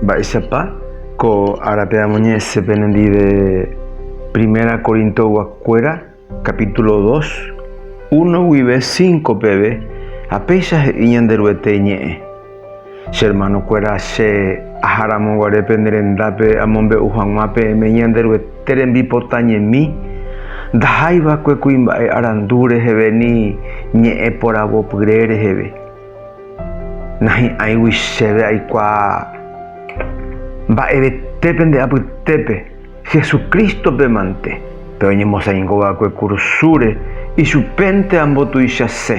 Mba'éichapa ko árape amoñe'ẽse penendive Primera Corintoguakuéra capítulo dos, uno guive cinco peve, ha péicha he'i Ñanderuete iñe'ẽ, Che hermanokuéra, che aharamoguare pene rendápe amombe'u hag̃ua peẽme Ñanderuete rembipota ñemi, ndahái va'ekue kuimba'e arandu reheve ni ñe'ẽ poravopyre reheve. Nahi'ãigui chéve aikuaa mba'evete pende apytépe, Jesucristo-pe mante, pe oñemosaingo va'ekue kurusúre, ichupénte ambotuichase.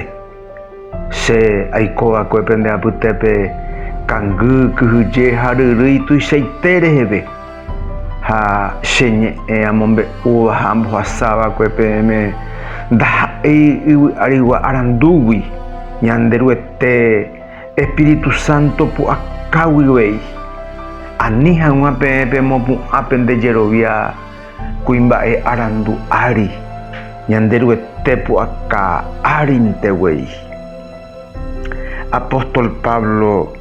Che aiko va'ekue pende apytépe kangy, kyhyje ha ryrýi tuichaite reheve. Ha che ñe'ẽ amombe'úva ha ambohasava'ekue peẽme ndaha'éi yvy arigua arandúgui, Ñanderuete Espíritu Santo pu'akáguivéi. Ani hag̃ua peẽ pemopu'ã pende jerovia kuimba'e arandu ári, Ñanderuete pu'aka árinteguéi. Apóstol Pablo.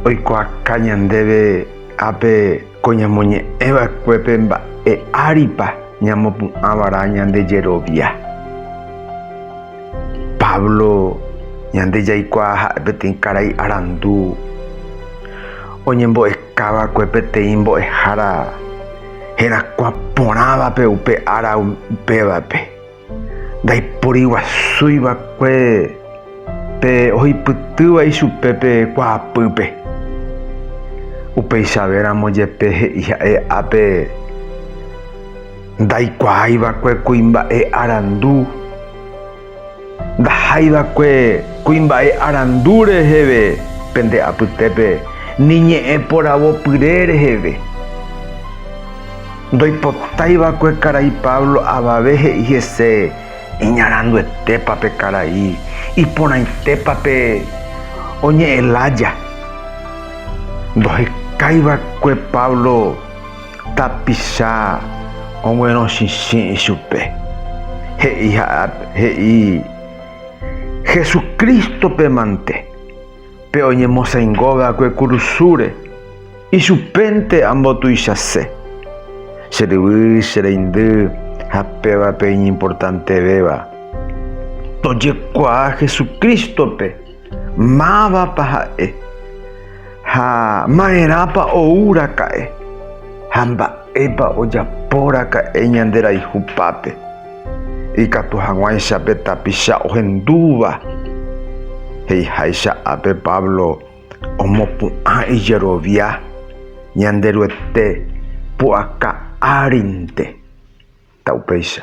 Oikuaaka ñandéve ápe ko ñamoñe'ẽ va'ekuépe mba'e áripa ñamopu'ã va'erã ñande jerovia. Pablo ñande jaikuaa ha'e peteĩ karai arandu oñembo'eka va'ekue peteĩ mbo'ehára herakuã porãvape upe ára upévape. Ndaiporiguasúi va'ekue pe ohupytýva ichupe pe kuaapýpe. Upeichave ramo jepe he'i ha'e ápe, Ndaikuaái va'ekue kuimba'e arandu, ndahái va'ekue kuimba'e arandu reheve pende apytépe, ni ñe'ẽ poravo pyre reheve. Ndoipotaiva'ekue karai Pablo avave he'i hese, Iñaranduetépa pe karai, iporãitépa pe oñe'ẽ lája. Ndohekáiva'ekue Pablo tapicha oguerõchichĩ ichupe, he'i Jesucristo-pe mante. Pe oñemosãingo va'ekue kurusúre, ichupénte ambotuichase. Che ryvy, che reindy ha pévape iñimportantevéva, tojekuaa Jesucrístope mávapa ha'e ha maerãpa ouraka'e ha mba'épa ojapóraka'e ñanderayhupápe. Ikatu hag̃uáicha pe tapicha ohendúva. He'iháicha ápe Pablo omopu'ã ijerovia Ñanderuete pu'aka árinte. Ta upéicha.